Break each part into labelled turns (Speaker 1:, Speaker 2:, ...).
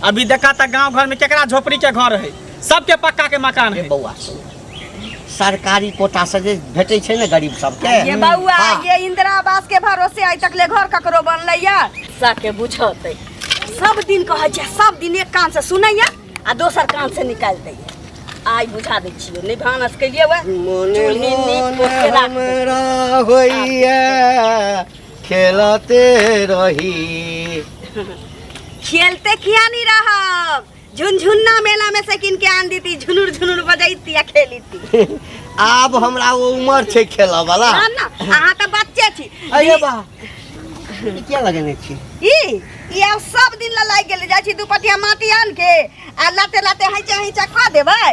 Speaker 1: अभी देखा तक गांव घर में केकरा झोपड़ी के घर है सबके पक्का के मकान है बउआ
Speaker 2: सरकारी कोटा से जे भेटै छै ने गरीब सबके ये बउआ हाँ। ये
Speaker 3: इंदिरा आवास के भरोसे आइ तक ले घर ककरो बनलै या साके बुझतै सब दिन कहै छै सब दिन एक कान से सुनै या आ दोसर कान से निकाल दै आइ बुझा दै छियै नै भानस केलिए वए मोने मोने हमरा
Speaker 2: होइए खेलते रही
Speaker 3: खेलते किया नहीं रहब झुनझुन्ना मेला में से किन के आन दी थी झुनुर झुनुर बजैती आ खेली थी आब
Speaker 2: हमरा वो उम्र छे खेला वाला ना ना अहाँ तो
Speaker 3: बच्चे छी अरे बा
Speaker 2: ई क्या लगेने छी ई ई आब
Speaker 3: सब दिन ला लागि गेल जाइ छी दू पटिया माटी आन के आ लाते लाते हैचा हैचा कऽ देबै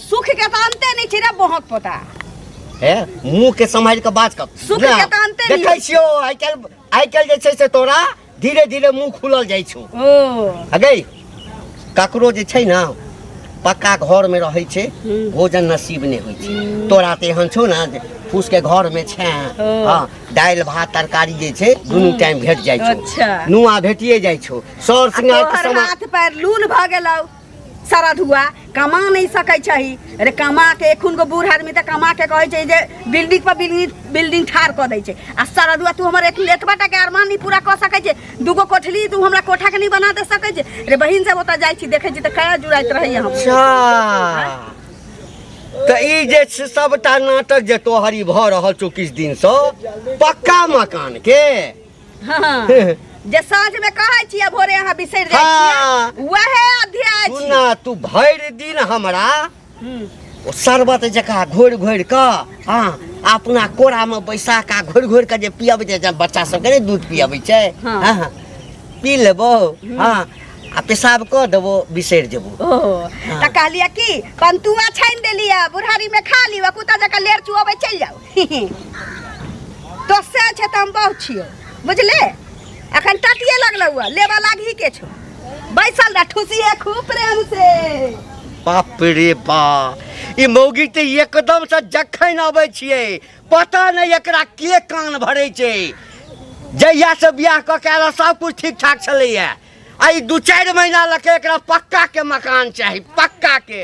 Speaker 2: सुख के तऽ अन्ते
Speaker 3: नहि छै रे बहक पोता
Speaker 2: हे मुंह के समझ के बात कर सुख के तऽ अन्ते नहि देखै
Speaker 3: छियो आइ काल्हि
Speaker 2: आइ काल्हि जे छै से तोरा धीरे धीरे मुंह खुलल जाइ छौ ओ अगे ककरो जे छै ने पक्का घर में रहै छै भोजन नसीब नहि होइ छै तोरा तऽ एहन छौ ने जे फूस के घर में छै ओ। हाँ दालि भात तरकारी जे छै दुनू टाइम भेट जाइ छौ अच्छा। नुआ भेटिए
Speaker 3: जाइ
Speaker 2: छौ सर आ सिंगार के तोहर समान हाथ पैर लूल
Speaker 3: भऽ गेलौ सरद हुआ कमा नहीं सकै छही अरे कमा के एखुन को बूढ़ आदमी तऽ कमा के कहै छै जे बिल्डिंग पर बिल्डिंग बिल्डिंग ठाढ़ कऽ दै छै आ सरद हुआ तू हमर एक एतबा टा के अरमान नहीं पूरा कऽ सकै छै दूगो कोठली तू हमरा कोठा के नहीं बना दे सकै छै रे बहिन सब ओतऽ जाइ छी देखै छी तऽ कया जुड़ाइत रहैए हम अच्छा
Speaker 2: तऽ ई जे छै सबटा नाटक जे तोहरी भऽ रहल छौ किछु दिनसँ पक्का मकानके हाँ,
Speaker 3: जे साँझ में कहै छियै भोरे अहाँ बिसरि जाइ हाँ। छियै वहे अध्याय छी सुना तू भरि
Speaker 2: दिन हमरा हम्म, ओ शरबत जकाँ घोरि घोरि कऽ हँ अपना कोरामे बैसा कऽ घोरि घोरि कऽ जे पियाबै छै जब बच्चा सबके ने दूध पियाबै छै हाँ। हँ पी लेबो हँ आ पेशाब कऽ देबो बिसरि जेबो ओ तऽ
Speaker 3: कहलियै कि पंतुआ छानि देलियै बुढ़ारी में खा लिअ कुत्ता जकाँ लेर चुअबै चलि जाउ तो से छै तऽ हम बहु छियो बुझले अखन टटिए लगलौ हुआ लेबा लागी के छो बैसल रह ठुसी है खूब प्रेम से बाप
Speaker 2: रे बा ई मौगी तऽ एकदम से जखन आबै छियै पता नहि एकरा के कान भरै छै जहिया से बियाह कऽ के आयल सब कुछ ठीक ठाक छलैया आ ई दू चारि महीना लऽ के एकरा पक्का के मकान चाही पक्का के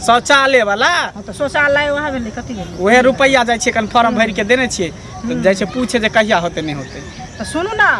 Speaker 1: शौचालय
Speaker 3: वाला
Speaker 1: हँ तऽ शौचालय वएह
Speaker 3: भेलै कथी भेलै उहे रुपैआ जाइ छै कन
Speaker 1: फॉर्म भरि के देने छियै तऽ जाइ छै पूछे जे कहिया होते नहि होते तऽ सुनू ने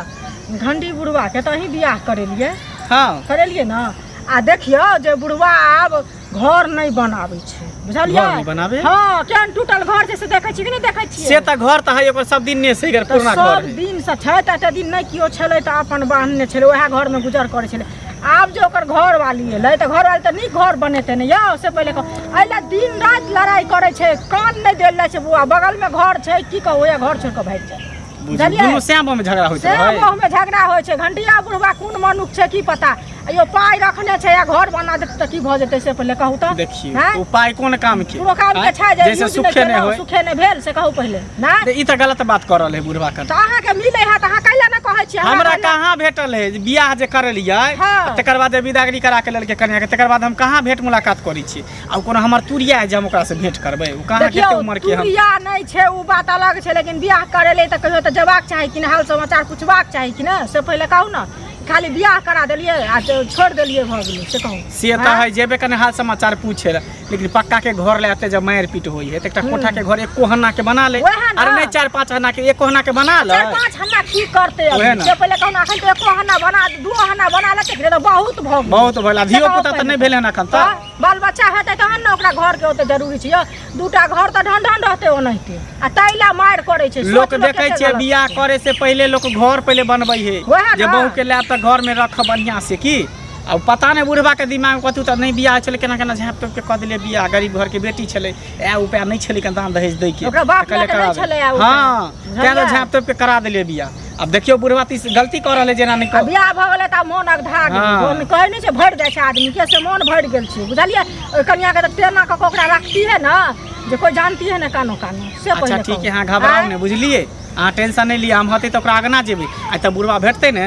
Speaker 3: घंडी बुढ़वाके तऽ अहीं बियाह करेलियै हँ करेलियै
Speaker 1: ने
Speaker 3: आ देखियौ जे बुढ़वा आब घर नहि बनाबै छै बुझलियै घर नहि बनाबै? हँ
Speaker 1: केहन टूटल
Speaker 3: घर छै से देखै छी कि नहि देखै छियै से तऽ घर तऽ है ओकर
Speaker 1: सब दिन ने से एकर तऽ पुरना घर सब है दिनसँ छै तऽ एते
Speaker 3: दिन नहि केओ छलै तऽ अपन बान्हने छलै उएह घरमे गुजर करै छलै आब जे ओकर घर वाली एलै तऽ घर वाली तऽ नीक घर बनेतै ने यौ से पहिले एहि लए दिन राति लड़ाइ करै छै कान नहि देल जाइ छै बौआ बगलमे घर छै की कहू ओएह घर छोड़ि कऽ भागि जाइ दुनू श्याममे
Speaker 1: झगड़ा होइ छै श्याममे झगड़ा होइ
Speaker 3: छै घंटिया बुढ़वा कोन मनुख छै की पता यो पाइ रखने छै या घर बना देतै तऽ की भऽ जेतै से पहिले कहू तऽ देखियौ पाइ कोन
Speaker 1: काम के कोनो काम के छै जे सुखे नहि भेल से कहू
Speaker 3: पहिले ना तऽ ई तऽ गलत बात कर
Speaker 1: रहल है बुढ़वा कर तो अहाँ के मिले है तो
Speaker 3: अहाँ कैला ना कहै छी हमरा कैला- कहाँ भेटल
Speaker 1: है जे बियाह जे करलियै हाँ। तकर बाद जे विदागरी करा के लेलकै कन्या के तकर बाद हम कहाँ भेंट मुलाकात करै छी आ ओ कोनो हमर तुरिया है जे हम ओकरा से भेंट करबै ओ कहाँ देखियौ, कते उम्र के हम तुरिया नहि छै ओ
Speaker 3: बात अलग छै लेकिन बियाह करे ले तऽ कहियो तऽ जेबाक चाही कि ने हाल समाचार पुछबाक चाही कि ने से पहिले कहू ने खाली बियाह करा देलियै आ छोड़ देलियै भऽ गेलै से कहू से तऽ है जेबे
Speaker 1: कने हाल समाचार पूछे लए लेकिन पक्का के घर ले आते जब मार पीट होई है तो एक हम्म। कोठा के घर एक कोहना के बना ले अरे नहीं चार पांच हना के एक कोहना के बना ले चार पांच हना की करते
Speaker 3: अब से पहले कहना अखन तो एक कोहना बना दो
Speaker 1: हना बना
Speaker 3: ले के
Speaker 1: तो
Speaker 3: बहुत भग बहुत
Speaker 1: भग
Speaker 3: अभियो पुता
Speaker 1: त नहीं
Speaker 3: भेले
Speaker 1: हना
Speaker 3: खन त बाल
Speaker 4: बच्चा हेते तहन न ओकरा घर के ओते जरूरी छै दूटा घर त ढन ढन रहते ओनहिते आ तैला मार करे छै लोक देखे छै बियाह
Speaker 1: करे से पहले लोक घर पहले बनबै है जे बहू के ले त घर में रख बढ़िया से की आ पता नहि बुढ़बाके दिमाग कथी तऽ नहि बियाह छलै केना केना झाँप तोपि के कऽ देलियै बियाह गरीब घरके बेटी छलै इएह उपाय नहि छलै कनि दान दहेज दैके ओकरा बाप तऽ कहलियै लए कऽ करा नहि छलै
Speaker 4: आ देबै। उपाय। हँ बुझलियै? तैं तऽ
Speaker 1: झाँप तोपि के करा देलियै बियाह आब देखियौ बुढ़बा तीस गलती कऽ रहल है जेना नहि आ कऽ बियाह भऽ गेलै तऽ मोन
Speaker 4: अगधा गेल हँ। मोन कहै नहि छै भरि जाइ छै आदमी के से मोन भरि गेल छै बुझलियै ओहि कनियाके तऽ टेना कऽ कऽ ओकरा रखती है ने जे कोइ जानती है ने कानो कानो से अच्छा पहिले ठीक कहू। है अहाँ घबराउ आँय?
Speaker 1: ने बुझलियै अहाँ टेंशन नहि लिअ हम हतै तऽ ओकरा अगना जेबै आ तऽ बुढ़बा भेटतै ने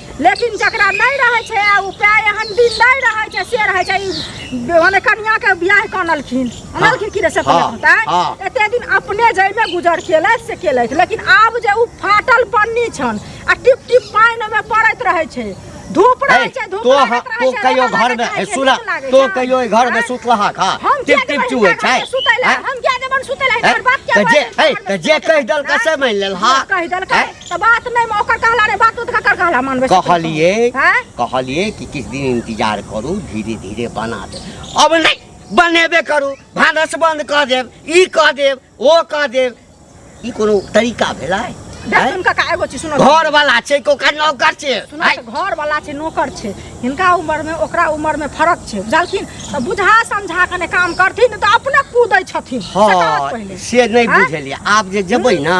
Speaker 4: लेकिन जकरा नहि रहै छै आ उपाय एहन दिन नहि रहै छै से रहै छै मने कनिया के बियाह कनलखिन अनलखिन कि से हाँ, होता हाँ। एते दिन अपने जइमे गुजर केलथि से केलथि लेकिन आब जे उ फाटल पन्नी छन आ टिप टिप पानि में पड़ैत रहै छै धूप रहै छै धूप तो रहै छै तो कहियो घर
Speaker 2: में सुना तो कहियो घर में सुतलहा खा टिप टिप चुए छै सुतैला हम क्या
Speaker 4: देबन सुतैला हमर बात क्या जे ए जे कहि
Speaker 2: दल का से मान लेल हां कहि दल का तो
Speaker 4: बात नहीं मैं ओकर कहला नहीं बात तो ककर कहला मानबे से कहलिए हैं
Speaker 2: कहलिए कि किस दिन इंतजार करू धीरे धीरे बना दे अब नहीं बनेबे करू भानस बंद कऽ देब ई कऽ देब ओ कऽ देब ई कोनो तरीका भेलै हैं? देख उनका का एगो
Speaker 4: चीज सुनो घर वाला छै कि ओकर
Speaker 2: नौकर छै सुनो आइ, तऽ घर वाला छै
Speaker 4: नौकर छै हिनका उम्र में ओकरा उम्र में फर्क छै बुझलखिन तऽ बुझा समझा कने काम करथिन तऽ अपने कूदै छथिन से कहत हँ पहिले से
Speaker 2: नहि हैं? बुझलियै आब जे जेबै ने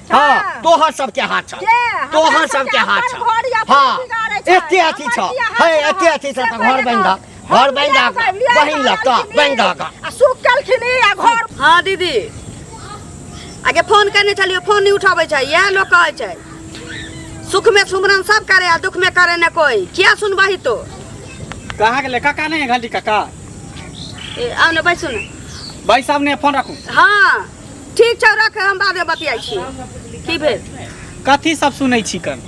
Speaker 2: हाँ तोहर सबके हाथ छ तोहर सबके हाथ छ हाँ एते अथी छ हे एते अथी छ त घर बनि दा घर बनि दा बहिन ल त बनि दा का आ सुख केलखिन ई
Speaker 4: आ घर हाँ दीदी
Speaker 3: आगे फोन करने चलियो फोन नहीं उठावे छै यह लोग कहे छै सुख में सुमरन सब करे आ दुख में करे न कोई क्या सुनबही तो कहाँ
Speaker 1: गेलै काका नहि घंटी काका ए,
Speaker 3: आउ ने बैसू ने भाइ साहब ने
Speaker 1: फोन राखू हाँ
Speaker 3: ठीक छै रख हम बाद में बतियाई छी की भेल कथी सब
Speaker 1: सुनै छी कन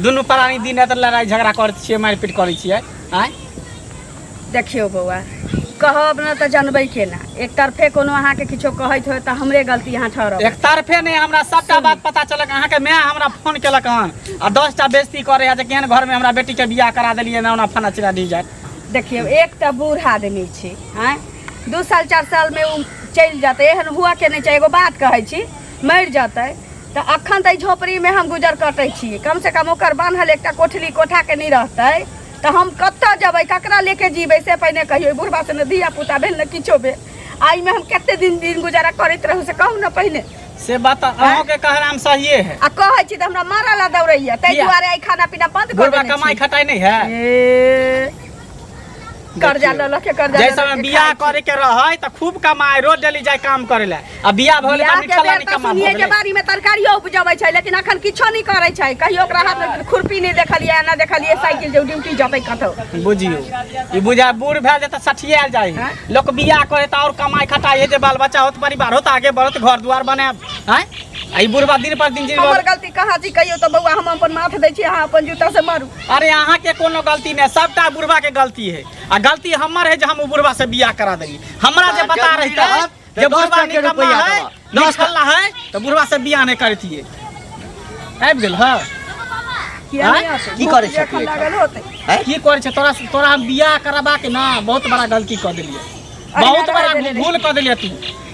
Speaker 1: दुनू प्राणी दिन रात लड़ाई झगड़ा करैत छियै मारपीट करैत छियै आँय
Speaker 3: देखियो बौआ कहब न तऽ जानबै केना एक तरफे कोनो अहाँके किछो कहैत होय तऽ हमरे गलती अहाँ ठहरब एक तरफे नहीं हमरा
Speaker 1: सबटा बात पता चलक अहाँ के माय हमरा फोन केलक हन आ दस टा बेइज्जती करे है जे केहन घर में हमरा बेटी के बियाह करा देलिए ना ओना फना चिरा दी जाए देखियौ एक तऽ
Speaker 3: बूढ़ आदमी छी आँय दू साल चारि सालमे ओ चलि जेतै एहन हुअके नहि छै एगो बात कहै छी मरि जेतै तऽ अखन तऽ एहि झोपड़ीमे हम गुजर कटै छी कमसँ कम ओकर बान्हल एकटा कोठली कोठाके नहि रहतै तऽ हम कतऽ जेबै ककरा लेके जीबै से पहिने कहियौ एहि बुढ़बासँ ने धियापुता भेल ने किछो भेल आ एहिमे हम कतेक दिन दिन गुजारा करैत रहू से कहू ने पहिने से बात तऽ
Speaker 1: अहाँके कहनाम सहिए है आ कहै छी तऽ हमरा मारऽ
Speaker 3: लए दौड़ैया ताहि किया? दुआरे एहि खाना
Speaker 1: पीना
Speaker 3: बन्द कर बुढ़बा देने
Speaker 1: कमाई छी
Speaker 3: खटाई नहीं है ए, कर्जा ले लके कर्जा जैसे में बियाह करे
Speaker 1: के रहे त खूब कमाए रोज डेली जाए काम करे ले आ बियाह भइल बियाह त के निकल बेर नहीं त कमा सुनिए के भइल बारी में तरकारियो
Speaker 3: उपजबै छै लेकिन अखन किछो नहि करै छै कहियो ओकरा हाथ में खुरपी नहि देखलियै ना देखलियै साइकिल जे ड्यूटी जतै कतौ बुझियो
Speaker 1: ई बुझा बूढ़ भए जाए त सठियाल जाए हैं? लोग बियाह करे त और कमाए खटाए जे बाल बच्चा होत परिवार होत आगे बढ़त घर दुआर बने हैं आ ई बुढ़वा दिन पर दिन जी हमर गलती कहाँ छी कहियो
Speaker 3: तऽ बौआ हम अपन माथ दै छी अहाँ अपन जूता से मारू अरे अहाँ के कोनो
Speaker 1: गलती नहीं सबटा बुढ़वा के गलती है आ गलती हमर है जो हम बुढ़वा से बियाह करा देली हमरा जे पता रहता है जे बुढ़वा निकम्मा है निकल्ला है तो बुढ़वा से बियाह नहीं करती है आबि गेल है
Speaker 2: की करे छै
Speaker 3: की करे छै तोरा
Speaker 1: तोरा हम बियाह करबा के ना बहुत बड़ा गलती कर देलिए बहुत बड़ा भूल कर देलिए तू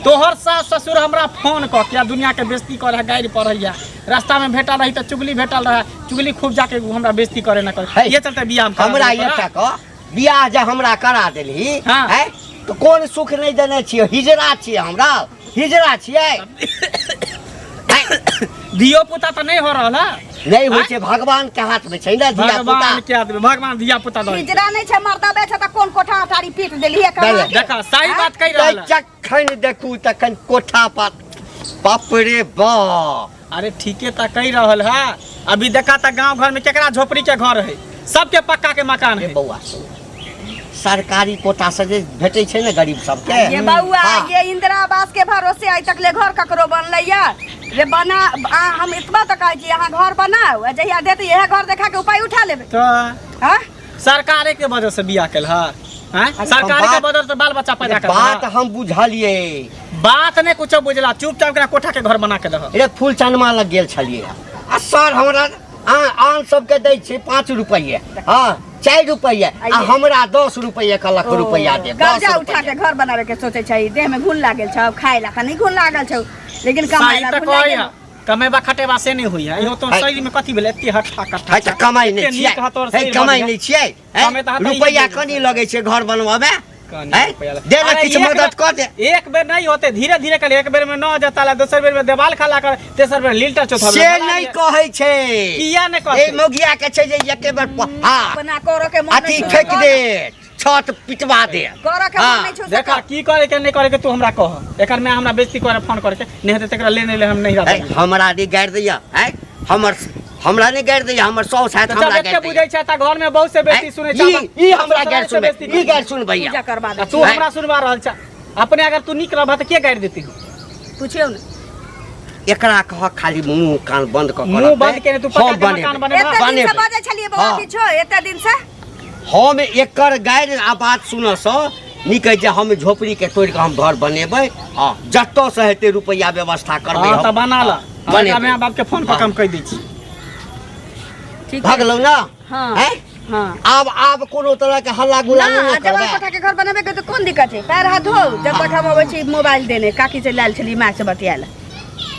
Speaker 1: तोहर सास ससुर हमरा फोन कऽ के दुनिया के बेइज्जती करे गाड़ी पढ़ैया रास्ता में भेटल रही तो चुगली भेटल रहा चुगली खूब जाके उ हमरा बेइज्जती करे ना करे है। ये चलते बियाह में करा हमरा देली ये तोरा। तक
Speaker 2: बियाह जे हमरा करा देलही हाँ। है तो कोन सुख नहीं देने छियै हिजरा छियै हमरा हिजरा छियै
Speaker 1: धियो पुता तो नहीं हो रहल है नहीं होइ छै भगवान
Speaker 2: के हाथ में छै ने धिया पुता भगवान के आदमी भगवान
Speaker 1: धिया पुता दो हिजरा नहीं छै मर्दा बेच
Speaker 3: त कोन कोठा अटारी पीट देली है कमा के। देखा सही बात कहि
Speaker 1: रहल है। चक खनि देखू
Speaker 2: तखन कोठा पर बाप रे बा अरे ठीके त
Speaker 1: कहि रहल है अभी देखा त गांव घर में केकरा झोपड़ी के घर है सबके पक्का के मकान रे है बौआ
Speaker 2: सरकारी कोटा से जे भेटै छै ने गरीब सबके ये बउआ हाँ। ये
Speaker 3: इंदिरा आवास के भरोसे आइ तक ले घर ककरो बनले या रे बना आ, हम इतना तक आइ कि यहाँ घर बनाओ आ जहिया देते यह घर देखा के उपाय उठा लेबे तो हाँ सरकारे के
Speaker 1: वजह से बियाह कैल है हैं? अरे सरकारे के बात- वजह से बाल बच्चा पैदा कर बात हम बुझलिए
Speaker 2: बात नहीं
Speaker 1: कुछ बुझला चुपचाप एकरा कोठा के घर बना के दह अरे फूल चनमा लग
Speaker 2: गेल छलिए आ सर हमरा आन आन सबके दै छै पाँच रुपैए हँ चारि रुपैए आ हमरा दस रुपैए कहलक रुपैआ देब दस कर्जा उठा के रुपैआ घर
Speaker 3: बनावे के सोचे छै देह में घुन लागल छौ खाए ला का नहीं घुन लागल छौ लेकिन कमाए सही ला तऽ घुन कहै लागल है कमेबा खटेबा
Speaker 1: से नहि होइए इहो तोर शरीरमे कथी भेलै एते हट्ठा कट्ठा है तऽ कमाइ नहि
Speaker 2: छियै है कमाइ नहि छियै रुपैआ कनि लगै छै घर बनबऽमे दे ने किछु मदद कऽ दे एक बेर नहि होते
Speaker 1: धीरे धीरे कर एक बेर में न जता ला दोसर बेर में देवाल खला कर तेसर बेर लिल्टर चौथा से नहीं कहै
Speaker 2: छै किया नहि कहै ए
Speaker 1: मोगिया के छै जे
Speaker 2: एके बेर हां बना कर के मन अथी
Speaker 3: फेक दे
Speaker 2: छत पिटवा दे करऽ के मन नहीं छौ से
Speaker 3: देखा कर। की करे के नहीं
Speaker 1: करे के तू हमरा कह एकर में हमरा बेइज्जती करे फोन करके नहीं हेतै तकरा ले नहीं ले हम नहीं है, रहबै हमरा नहीं गाड़ दैया
Speaker 2: है हमर हमरा नहीं गाड़ दैया हमर सौ साथ तो जब हमरा एते गाड़ बुझै छै त घर में बहुत
Speaker 1: से बेइज्जती सुनै छै ई ई हमरा गाड़
Speaker 2: सुन ई गाड़ सुन भैया पूजा करवा दे तू हमरा
Speaker 3: सुनवा रहल
Speaker 1: छ अपने अगर तू निक रहबा त के गाड़ि देती पूछियो ने
Speaker 3: एकरा
Speaker 2: कह खाली मुंह कान बंद क मुंह बंद केने तू पक्का के
Speaker 1: मकान बने एते दिन से बजे छलिए
Speaker 3: बौआ हाँ। किछो एते दिन से हम
Speaker 2: एकर गाड़ि आ बात सुनऽसँ नीक अछि जे हम झोपड़ीके तोड़ि कऽ हम घर बनेबै आ जतऽसँ हेतै रुपैआ व्यवस्था करबै हँ तऽ हम। बना लऽ
Speaker 1: बने। हमरा माय बापके फोन पर हम कहि दै छी ठीक
Speaker 3: छै भगलहुँ ने हँ
Speaker 2: हैं?
Speaker 3: हँ
Speaker 2: आब
Speaker 3: आब कोनो
Speaker 2: तरहके हल्ला गुल्ला ना, नहि आ जब करबै कोठा के घर बनाबे
Speaker 3: के तो
Speaker 2: कोन
Speaker 3: दिक्कत है पैर हाथ धो जब तक हम अबै छी मोबाइल देने काकी से लायल छली माय से बतियाल